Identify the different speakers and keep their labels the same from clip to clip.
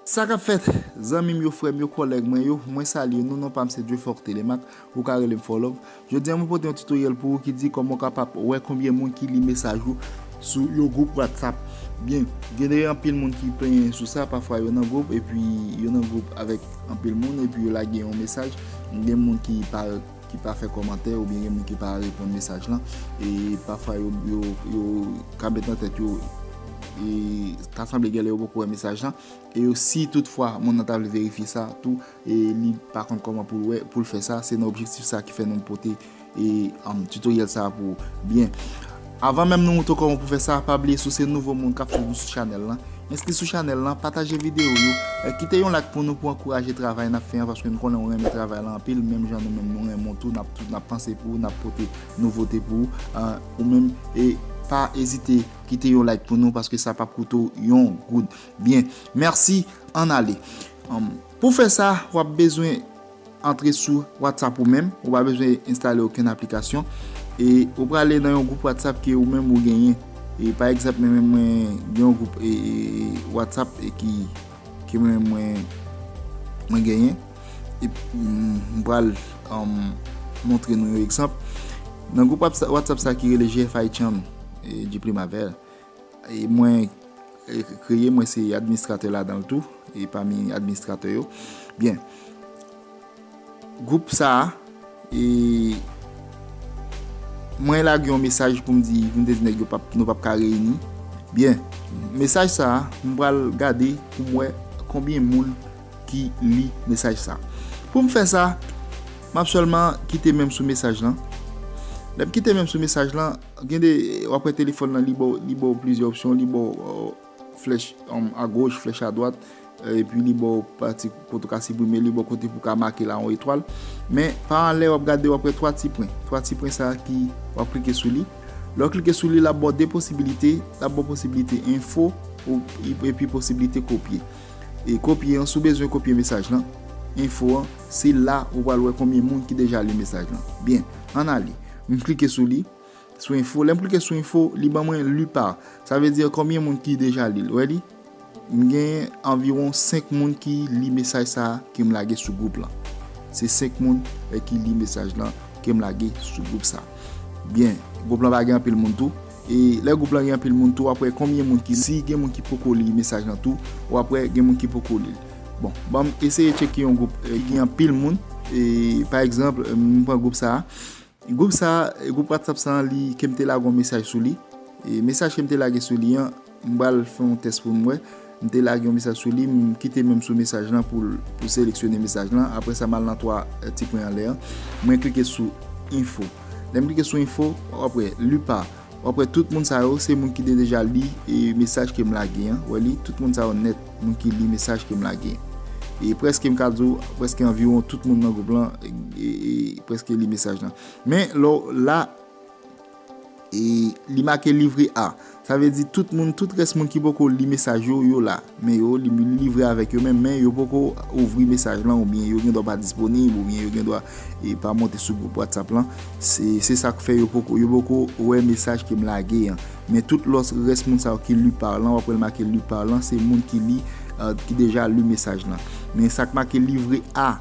Speaker 1: Sa kap fèt zanmim yo frèm yo kòlèg mwen yo mwen salye nou non pam se Dieufort Thélémaque ou ka relem Forlove. Jodi a mwen pote yon tutoriel pou ou ki di koman ou kapap wè konbyen moun ki li mesaj ou sou yon group whatsapp byen genlè anpil moun ki plenyen sou sa pafwa yo nan group epi yo nan group avèk anpil moun epi yo lage yon mesaj gen moun ki pa ki pa fè komantè ou byen gen moun ki pa reponn mesaj lan e pafwa yo yo yo ka met nan tèt yo e ta sanble genlè yo poko wè mesaj lan e yo si tout fwa moun nan ta vle verifye sa tou e li pa konn kòman poul wè poul fè sa, se nan objektif sa ki fè nou pote e tutoriel sa pou ou byen avan menm nou moutre w kòman pou fè sa pa bliye si w se nouvo moun kap swiv nou sou chanèl lan enskri sou chanèl lan pataje videyo yo kite yon like pou nou pou ankouraje travay nap fè an paske nou konnen ou renmen travay lan anpil menm jan nou menm nou renmen w tou nap panse pou ou nap pote nouvote pou ou ou menm e pa ezite kite yon like pou nou paske sa pap koute w yon goud. Byen, mèsi, ann ale. Pou fè sa, w ap bezwen antre sou WhatsApp ou menm, ou pa bezwen enstale okenn aplikasyon, e ou prale nan yon gwoup WhatsApp ke ou menm ou genyen. E pa egzanp mwen menm mwen gen yon gwoup WhatsApp ke mwen menm mwen genyen, e m pral montre nou yon egzanp. Nan gwoup WhatsApp sa ki rele GFI Channel, Djiplimavert, Mwen kreye, mwen se administratè ladanl tou, e pami administratè yo. Byen, group sa, e mwen lage yon mesaj pou m di, pou m te di nèg yo nou pap ka reyini. Byen, mesaj sa, m pral gade pou m wè konbyen moun ki li mesaj sa. Pou m fè sa, m ap sèlman kite menm sou mesaj lan. Lè m kite menm sou mesaj lan. Gen de wap wè telefòn lan li ba w plizyè opsyon, li ba w flèch a goch, flèch a dwat, epi li ba w pati kote ou ka siprime, li ba w kote pou ka make la yon etwal. Men pa an lè wap gade wap wè 3 ti pwen. 3 ti pwen sa ki wap klike sou li. Lè w klike sou li lap ba w 2 posibilite, lap ba w posibilite enfo epi posibilite kopye. E kopye an si w bezwen kopye mesaj lan, enfo an, se la ou pral wè konbyen moun ki deja li mesaj lan. Byen, an ale. M klike sou li, sou info, lè m klike sou info, li ban mwen lu par. Sa vle dire konbyen moun ki deja li l. Ou wè li? M gen anviwon 5 moun ki li mesaj sa a ke m lage sou gwoup lan. Se 5 moun ki li mesaj lan ke m lage sou gwoup sa a. Byen, gwoup lan pa gen anpil moun tou. E lè group lan gen anpil moun tou wap wè konbyen moun ki si gen moun ki poko li mesaj lan tou wap wè gen moun ki poko lil bon banm eseye tcheke yon group ki gen anpil moun e pa egzanp m pran group sa group sa group whatsapp sa li kem te lage yon mesaj sou li e mesaj kem te lage sou li an. M pral fè yon tès pou m wè. M te lage yon mesaj sou li, m kite menm sou mesaj lan pou l seleksyone mesaj lan. Apre sa, m al nan 3 ti pwen anlè an. Mwen klike sou Info. Lè m klike sou Info, w ap wè, Lu par. W ap wè tout moun sa yo, se moun ki te deja li mesaj ke m lage an. Ou wè li? Tout moun sa yo nèt, moun ki li mesaj ke m lage. E prèske m ka di w, prèske anviwon tout moun nan gwoup lan prèske li mesaj lan. Men lè w la. E li make livre a. Sa vle di tout moun, tout rès moun ki poko li mesaj yo, yo la. Men yo, li livre avèk yo menm, men yo poko ouvri mesaj lan oubyen yo gen dwa pa disponib oubyen yo gen dwa pa monte sou gwoup WhatsApp lan. Se sa k fè yo poko, yo poko wè mesaj ke m lage an. Men tout lòs rès moun sa yo ki lu par lan, w ap wè l make lu par lan, se moun ki li, ki deja li mesaj lan. Men sa k make livre a,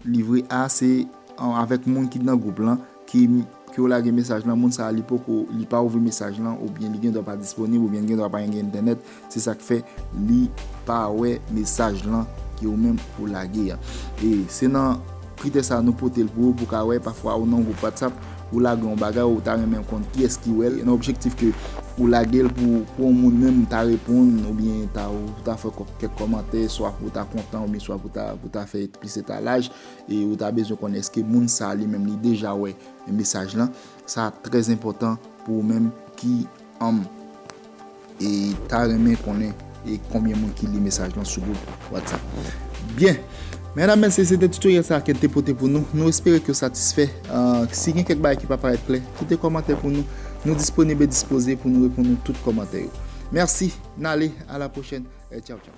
Speaker 1: livre a se avèk moun ki nan gwoup lan. Ki ke w lage mesaj lan moun sa li poko li pa ouvri mesaj lan oubyen li gendwa pa disponib oubyen li gendwa pa gen entènèt se sak fè li pa wè mesaj lan ke ou menm ou lage a e se nan kritè sa nou pote l pou ou pou ka wè pafwa ou nan yon gwoup whatsapp ou lage yon bagay ou ta renmen konn kiyès ki wè l nan objektif ke ou lage l pou yon moun menm ta reponn oubyen ta ou ta fè kèk kòmantè swa pou ta kontan oubyen swa pou ta fè plis etalaj. E ou ta bezwen konnen eske moun sa li menm li deja wè mesaj lan. Sa ap trè enpòtan pou ou menm ki anm e ta renmen konnen e konbyen moun ki li mesaj lan sou gwoup WhatsApp. Byen! Medam, mesye, se te tutorial sa ke n te pote pou nou. Nou espere ke w satisfè. Si gen kèk bagay ki pa parèt klè, kite kòmantè pou nou. Nou disponib e dispoze pou nou reponn nou tout kòmantè yo. Mèsi, n ale, a la pwochèn e tchaw tchaw.